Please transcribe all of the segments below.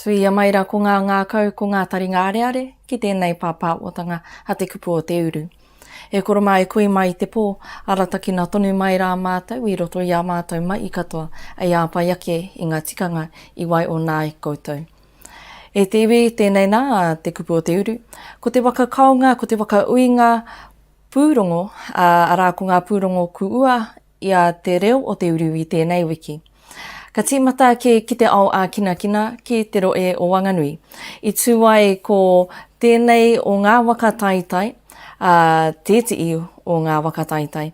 Tuia mai ra ko nga ngakau ko nga taringa areare ki tenei papawatanga a te kupu o te uru. E koro ma e kui mai te po, aratakina tonu mai ra matou i roto i a matou mai katoa ei apai ake i nga tikanga i wai ona ai koutou. E te iwi tenei na te kupu o te uru, ko te waka kaonga ko te waka uinga Pūrongo, ā, arā ko ngā pūrongo kuua i a Te Reo o Te Uru i tēnei wiki. Ka tīmata ake ki te ao ā-kinakina ki te rohe o Wanganui. I tū ai ko tēnei o ngā waka taitai, ā, tētihi o ngā waka taitai,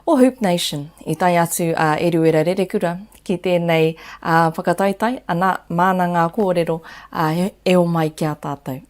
o Hoop Nation. I tae atu a Eruera Rerekura ki tēnei whakataitai, ana, māna ngā kōrero, ā, e homai ki a tātou.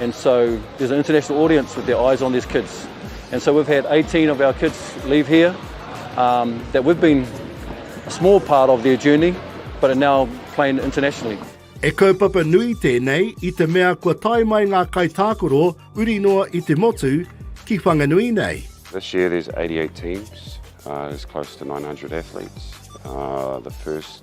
And so there's an international audience with their eyes on these kids. And so we've had 18 of our kids leave here um, that we've been a small part of their journey, but are now playing internationally. E kaupapa nui tēnei i te mea kua tae mai ngā kaitākaro uri noa i te motu ki Whanganui nei. This year there's 88 teams, uh, there's close to 900 athletes. Uh, the first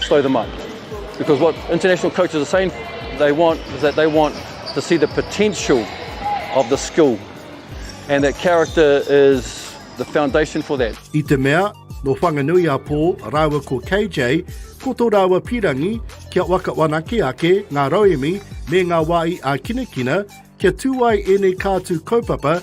Stow them up. Because what international coaches are saying they want is that they want to see the potential of the skill. And that character is the foundation for that. I te mea, no Whanganui a Pō rāua ko KJ, ko tō rāua pīrangi kia waka wanake ake ngā rauemi me ngā wāhi ā-kinakina kia tū ai ēnei kātū kaupapa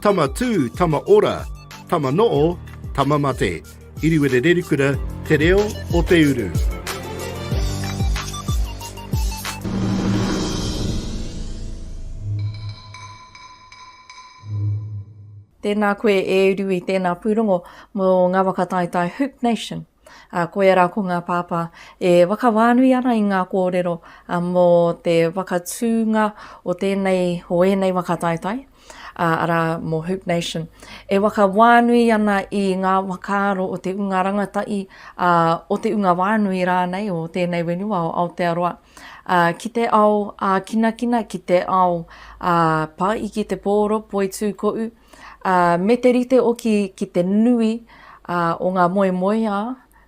Tama tū, tama ora, tama noo, tama mate. Iriwere Rerikura, Te Reo o Te Uru. Tēnā koe e Rui, tēnā pūrongo mō Ngāwaka Taetae Hoop Nation. Ā, koia rā ko ngā pāpā e whakawhānui ana i ngā kōrero mō te whakatūnga o tēnei, o ēnei waka taetae, ā, arā, mō Hoop Nation. E whakawhānui ana i ngā whakaaro o te ūnga rangatahi, ā, o te ūnga whānui rānei o tēnei whenua o Aotearoa, ā, ki te ao ā-kinakina, ki te ao ā-pāiki, te pōro, poitūkoʻu, Ā, me te rite hoki ki te nui o ngā moemoeā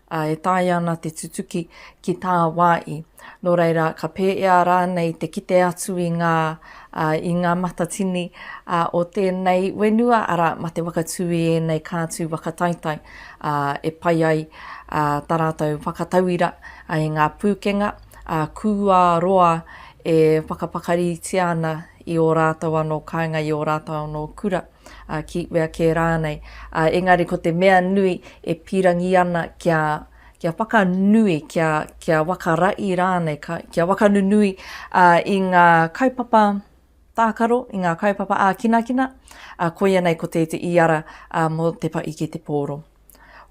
e taea ana te tutuki ki tāwāi. Nō reira, ka pēea rānei te kite atu i ngā, i ngā matatini o tēnei whenua, arā, mā te whakatū i ēnei kātū whakataetae e pai ai tā rātou whakatauira i ngā pūkenga kūā roa e whakapakaritia ana i ō rātou anō kāinga, i ō rātou anō kura, ā, ki wea kē rānei. Ā, engari ko te mea nui e pīrangī ana kia, kia whakanui, kia, kia wakaraʻi rānei, ka, kia wakanunui, ā, i ngā kaupapa tākaro, i ngā kaupapa ākinakina, ā, koia nei ko te, te iara, ā, mō te pa ike te pōro.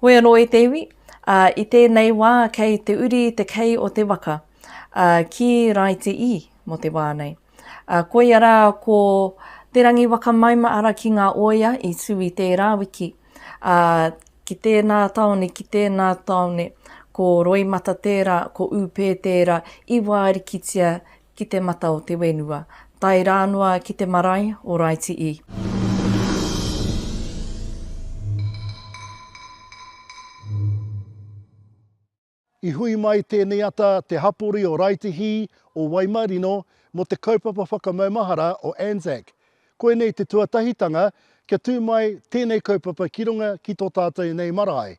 Hoi anō e te iwi, ā, i tēnei wā kei te uri te kei o te waka, ā, ki Raiti ii mō te wā nei. Ā, koia rā, ko Te Rangiwakamaima-ara ki ngā oia i tū i tērā wiki, ā, ki tēnā tāone, ki tēnā tāone, ko Roimata tērā, ko Ūpē tērā, i wārikitia ki te mata o te whenua, tae rā noa ki te marae o Raiti i. I hui mai tēnei ata te hapori o Raetihi o Waimarino mō te kaupapa whakamaumahara o ANZAC. Koinei te tuatahitanga kia tū mai tēnei kaupapa ki runga ki tō tātou nei marae.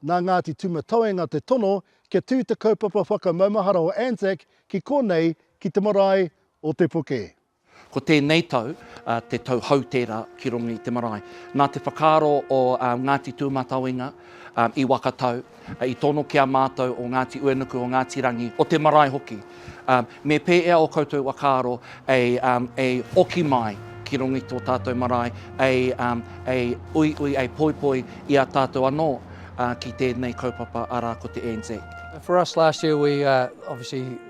Nā Ngāti Tūmatauenga te tono kia tū te kaupapa whakamaumahara o ANZAC ki konei ki te marae o Te Puke. Ko tēnei tau te tau hou tērā ki runga i te marae. Nā te whakaaro o Ngāti Tūmatauenga i Wakatau, i tono ki a mātou o Ngāti Uenuku, o Ngāti Rangi, o te marae hoki, me pēea o koutou whakaaro e oki mai ki runga i tō tātou marae, e uiui, e poipoi i a tātou anō ki tēnei kaupapa arā ko te Anzac. For us last year we obviously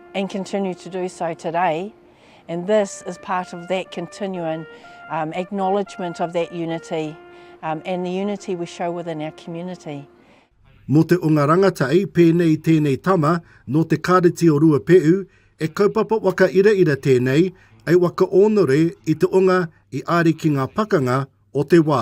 and continue to do so today and this is part of that continuing um, acknowledgement of that unity um, and the unity we show within our community. Mō te o ngā rangatai, pēnei tēnei tama, nō te kāreti o Ruapehu, e kaupapa waka ira ira tēnei, ei waka ōnore i te onga i āri ki ngā pakanga o te wā.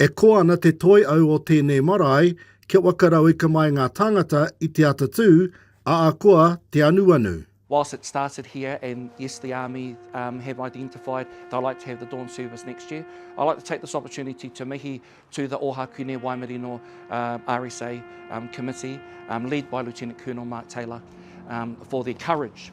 E koa ana te toi au o tēnei marae kia waka rauika mai ngā tāngata i te atatū, āakoa te anuanu. Whilst it started here and yes the army um have identified they'd like to have the dawn service next year, I'd like to take this opportunity to mihi to the Ohakune Waimarino uh RSA um committee um led by Lieutenant Colonel Mark Taylor um for their courage.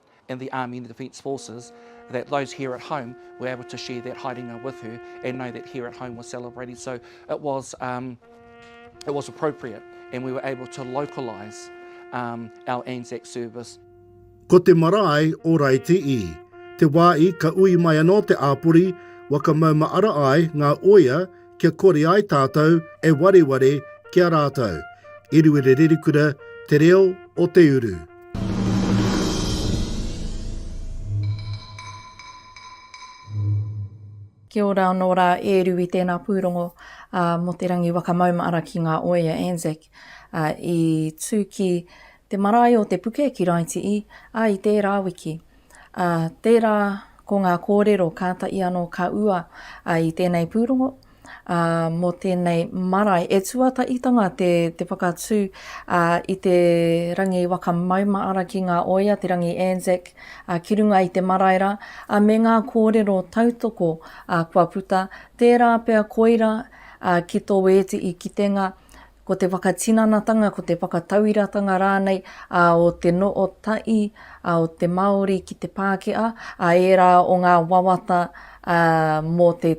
in the Army and the Defence Forces, that those here at home were able to share that haerenga with her and know that here at home was celebrating. So it was, um, it was appropriate and we were able to localise um, our Anzac service. Ko te marae o Raiti'i, te wāi ka ui mai anō te āpori, waka mauma ara ai ngā oia kia kore ai tātou e wareware ki a rātou. Eruere Rerikura, Te Reo o Te Uru. Kia ora anō rā e Rui tēnā pūrongo mō Te Rangi Wakamaumaara ki ngā oea Anzac i tū ki te marae o Te Puke ki Raitii, ā, i tērā wiki. Ā, tērā ko ngā kōrero kātahi anō ka ua i tēnei pūrongo, ā, mō tēnei marae e tuatahitanga te, te whakatū ā, i te rangi waka maumaara ki ngā oia, te rangi Anzac ā, ki runga i te marae rā, ā, me ngā kōrero tautoko ā, kua puta, tērā pea koira ā, ki tō ēti i kitenga, ko te whakatinanatanga, ko te whakatauiratanga rānei ā, o te noo tai ā, o te Māori ki te Pākehā, ā, ērā o ngā wawata ā, mō te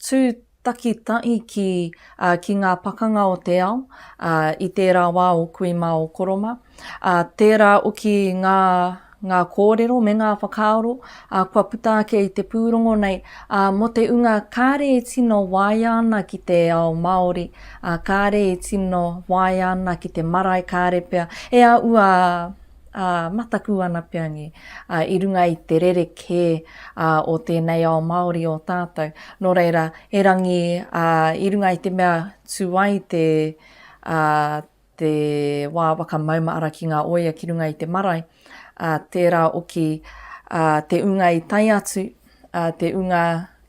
tū takitai ki, ā, ki ngā pakanga o te ao ā, i tērā wā o kui mā o koroma, ā, tērā oki ngā. ngā kōrero me ngā whakaaro ā kua puta ake i te pūrongo nei, ā, mō te unga kāre e tino waia ana ki te ao Māori, ā, kāre i tino waia ana ki te marae kāre pea e āua ā, mataku ana pea ngi, ā, i runga i te rerekē ā o tēnei ao Māori o tātou, nō reira, erangi ā, i runga i te mea tū ai te ā, te wā waka maumaara ki ngā oia ki runga i te marae, ā, tērā oki, ā, te unga i tae atu, ā, te unga,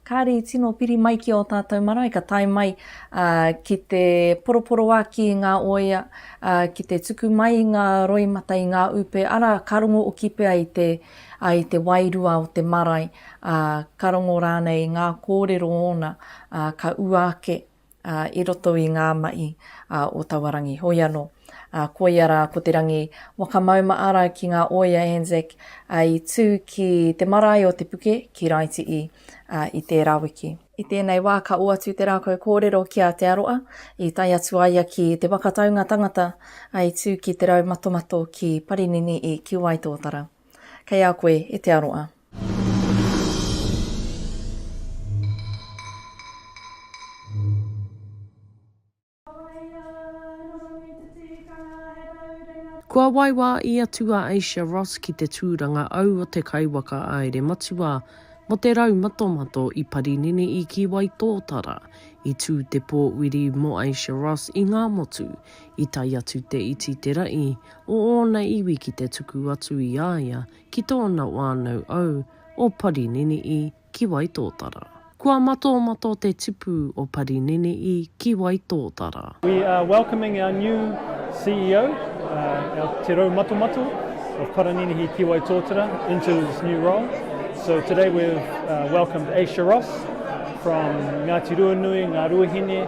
kāre i tino piri mai ki ō tātou marae, ka tae mai, ā, ki te poroporoaki i ngā oia, ā, ki te tuku mai i ngā roimata, i ngā upe, arā, ka rongo oki pea i te, ā, i te wairua o te marae, ā, ka rongo rānei i ngā kōrero ōna, ā, ka ua ake. i roto i ngā mahi o taua rangi. Hoi anō, koia rā ko te rangi Wakamauma'ara ki ngā oia Anzac i tū ki te marae o Te Puke ki Raiti'i i tērā wiki. I tēnei wā ka oatu te rākau kōrero ki a Te Aroa i tae atu a ia ki Te Waka Taunga Tangata i tū ki Te Raumatomato ki Parinini i Kiwaitōtara. Kei a koe e te aroa. Kua waiwā i atu a Asia Ross ki te tūranga au o te kaiwaka āere matua mō te rau matomato i Parinini i Kīwaitōtara. I tū te pōwiri mō Asia Ross i Ngāmotu. I tae atu te iti te raʻi o ōna iwi ki te tuku atu i a ia ki tōna wānau au o Parininiʻi ki Waitōtara. Kua matomato te tipu o Parininiʻi ki Waitōtara. We are welcoming our new CEO, our Te Rau Matomato of Paraninihi ki Waitōtara into this new role. So today we've welcomed Asia Ross from Ngāti Ruanui, Ngāruahine,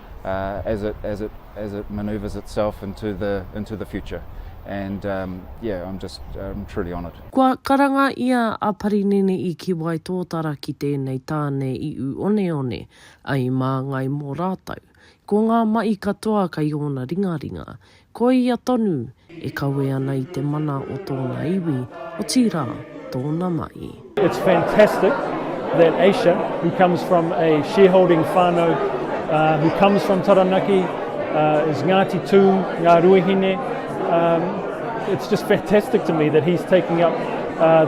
uh, as it as it as it manoeuvres itself into the into the future. And um, yeah, I'm just I'm truly honoured. Kua karanga ia a Parinene i ki wai tōtara ki tēnei tāne i u oneone ai māngai mō rātou. Ko ngā mahi katoa kai ōna ringaringa, Ko ia tonu e kawe ana i te mana o tōna iwi, otirā, tōna mahi. It's fantastic that Asia, who comes from a shareholding whānau, who comes from Taranaki, is Ngāti Tū, Ngā Ruahine, it's just fantastic to me that he's taking up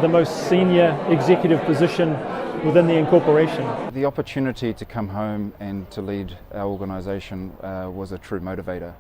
the most senior executive position within the incorporation. The opportunity to come home and to lead our organisation was a true motivator.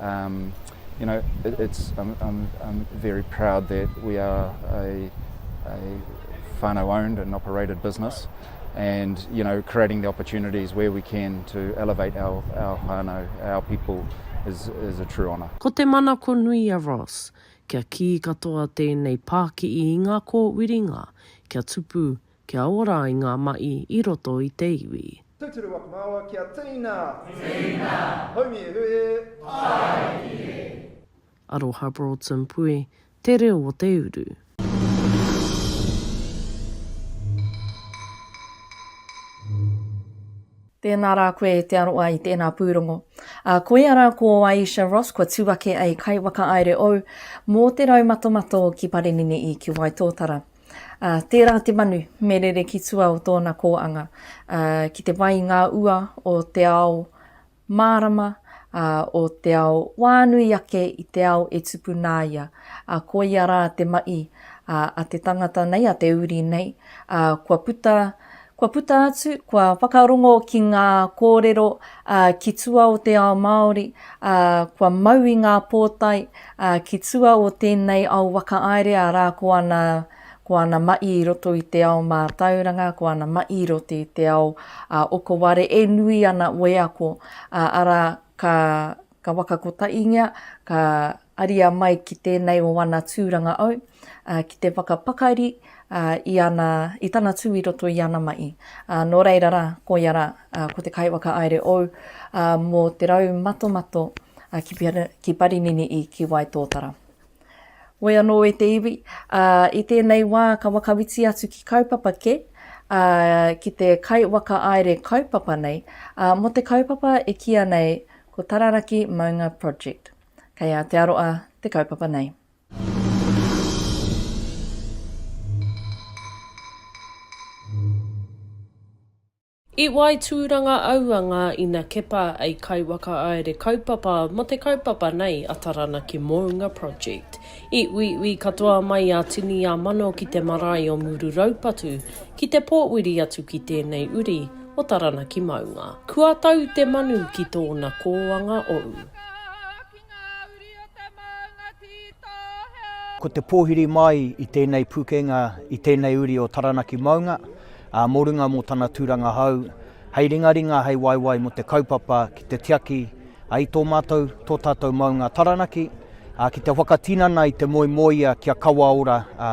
Um, you know, it, it's, I'm, I'm, I'm very proud that we are a, a whānau owned and operated business and, you know, creating the opportunities where we can to elevate our, our whānau, our people is, is a true honour. Ko te manako nui a Ross, kia kī katoa tēnei pāki'i i ngā kōwiringa, kia tupu, Kia ora ai ngā maʻi i roto i te iwi. Tūturu waku māua kia tīna. Tīna. Haumi e hue. Tāiki e. Aroha Broughton Pue te reo o te uru. Tēnā rā koe te aroa i tēnā pūrongo. A, koia rā ko Aisha Ross kua tū ake ai kai wakaāere ou mō te rau matomato ki Parinini i ki Waitōtara. Ā, tērā te manu me rere ki tua o tōna kōanga, ā, ki te whai i ngā ua o te ao mārama, ā, o te ao wānui ake i te ao e tupu nā ia, ā, koia rā te maʻi, ā, a te tangata nei, a te uri nei, ā, kua puta, Kua puta atu, kua whakarongo ki ngā kōrero ki tua o te ao Māori, ā, kua mau i ngā pōtae ki tua o tēnei ao whakaaere, arā, ko ana, ko ana maʻi i roto i te ao mātauranga, ko ana maʻi i roto i te ao okoware e nui ana wheako, arā, ka, Ka whakakotaingia, ka aria mai ki tēnei o ana tūranga au, ki te whakapakari i ana, i tana tū i roto i ana mahi. Nō reira rā, koia rā, ko te kaiwhakahaere ou mō Te Rau Matomato ki Parinini i Ki Wai Tōtara. Woi anō e te iwi, ā, i tēnei wā ka whakawiti atu ki kaupapa kē, ā, ki te kaiwhakaāere kaupapa nei, ā, mō te kaupapa e kīia nei ko Tararaki Maunga Project. Kei Aotearoa te kaupapa nei. I wai tūranga aua ngā ina kepa ei kaiwakaāere kaupapa mō te kaupapa nei a Taranaki Mounga Project. I uiui katoa mai a Tini a Mano ki te marae o Muru Raupatu ki te pōuri atu ki tēnei uri o Taranaki Maunga. Kua tau te manu ki tōna kōanga ou. Ngā uri o te maunga ki tō hea. Ko te pōhiri māi i tēnei pukenga i tēnei uri o Taranaki maunga, ā, mō runga mō tana tūranga hou, hei ringaringa, hei waewae mō te kaupapa ki te tiaki ai tō mātou, tō tātou maunga Taranaki, ā, ki te whakatinana i te moemoeā kia kawa ora, ā,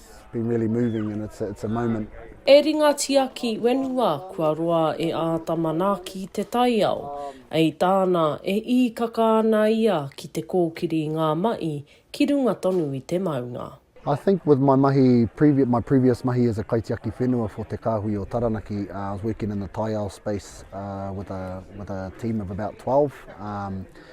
E ringa tiaki whenua kua roa e āta manaaki te taiao. Ei tāna, e īkaka ana ia ki te kōkiri i ngā mahi ki runga tonu i te maunga. I think with my mahi, my previous mahi as a kaitiaki whenua for Te Kāhui o Taranaki, I was working in the taiao space with a with a team of about twelve,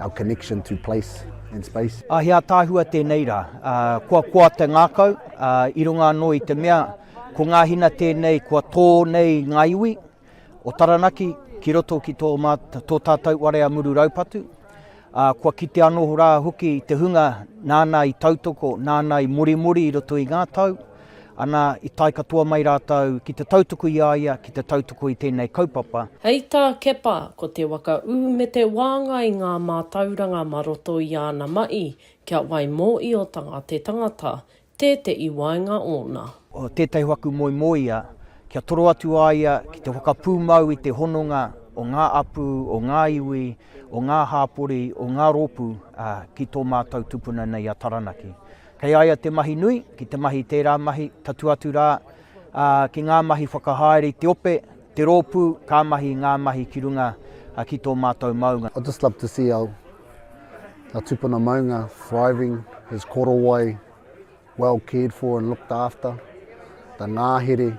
Our connection to place and space. A he ataahua tenei ra, a kua koa te ngakau, a i runga ano i te mea ko nga hina tenei kua to nei nga iwi o Taranaki ki roto ki to ma to tatou warea muru raupatu, a kua kite ano ra hoki te hunga nana i tautoko, nana i morimori i roto i nga tau, Ana, i tae katoa mai rātou ki te tautuku i a ia, ki te tautuku i tēnei kaupapa. Hei tā Kepa, ko te waka ū me te wāngai ngā mātauranga ma roto i āna maʻi kia wai mōʻiotanga te tangata, tēteʻi waenga ōna. O tētahi waku moemoeia, kia toro atu a ia ki te whakapūmau i te hononga o ngā apu, o ngā iwi, o ngā hāpori, o ngā rōpū, ā, ki tō mātou tupuna nei a Taranaki. Kei a ia te mahi nui, ki te mahi i tērā mahi, tatū atu rā, ā, ki ngā mahi whakahaere i te ope, te rōpū, ka mahi i ngā mahi ki runga ki tō mātou maunga. I'd just love to see our our tupuna maunga thriving, his korowai well cared for and looked after, the ngāhere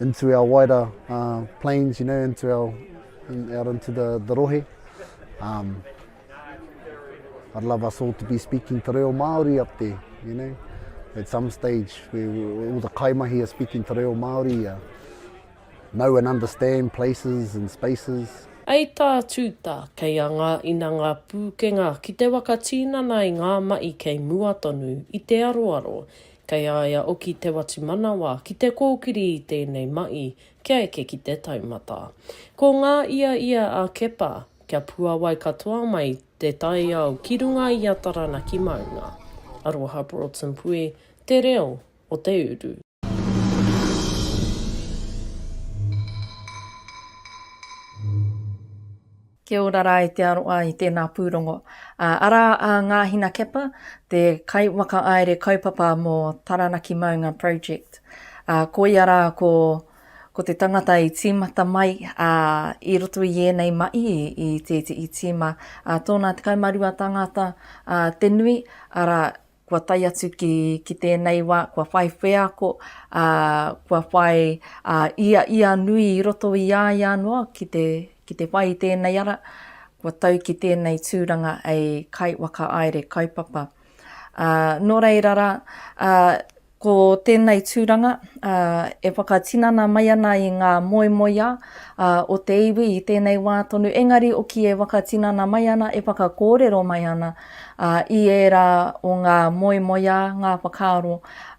into our wider uh, planes, you know, into our in, out into the, the rohe. Um, I'd love us all to be speaking te reo Māori up there, you know. At some stage, we, we, all the kaimahi are speaking te reo Māori, uh, know and understand places and spaces. Hei tā Tūta, kei a ngā ina ngā pūkenga ki te waka tīnana i ngā mahi kei mua tonu i te aroaro, Kei a ia oki te watu manawa ki te kōkiri i tēnei maʻi kia eke ki te taumata. Ko ngā ia ia a Kepa, kia puawai katoa mai te taiao ki runga i a Taranaki maunga. Aroha Broughton Pui, Te Reo o te Uru. Kia ora rā e te aroa i tēnā pūrongo. Arā a Ngāhina Kepa, te kaiwhakaāere kaupapa mō Taranaki Maunga Project. Ko ia rā ko te tangata i tīmata mai i roto i ēnei mahi i te iti i tīma tōna 12 tāngata te nui, arā, kua tae atu ki, ki tēnei wā, kua whai wheako, ā, kua whai ā, ia, ia nui i roto i a ia noa ki te, ki te whai i tēnei ara, kua tau ki tēnei tūranga hei kaiwhakaāere kaupapa. Ā, nō reira rā, ā, Ko tēnei tūranga e whakatinana mai ana i ngā moemoeā o te iwi i tēnei wā tonu, engari hoki e whakatinana mai ana, e whakakōrero mai ana i ērā o ngā moemoeā, ngā whakaaro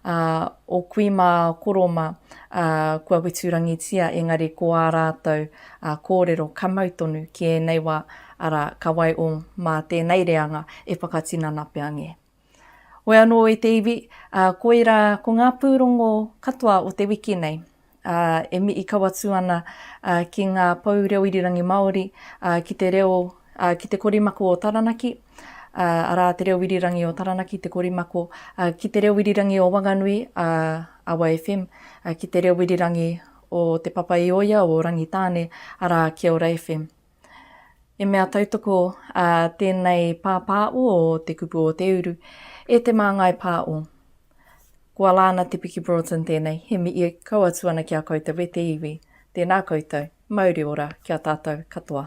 o kui mā, o koro mā kua weturangitia, engari ko ā rātou kōrero ka mau tonu ki ēnei wā, arā, ka waiho mā tēnei reanga e whakatinana pea ngē. Oe anō e te iwi, ā, koirā ko ngā pūrongo katoa o te wiki nei, ā, e mii kau atu ana, ā, ki ngā pou reo irirangi Māori, ā, ki te reo, ā, ki te korimaku o Taranaki, ā, arā te reo irirangi o Taranaki te korimako, ā, ki te reo irirangi o Wanganui, ā, Awa FM, ā, ki te reo irirangi o Te Papa-i-oia o Rangitāne, arā Kiaora FM. E mea tautoko a tēnei pāpāo o Te Kupu o Te Uru e Te Māngai Pāo. Ko Alana Te Piki Broughton tēnei, he mihi kau atu ana ki a koutou e te iwi. Tēnā koutou, mauri ora ki a tātou katoa.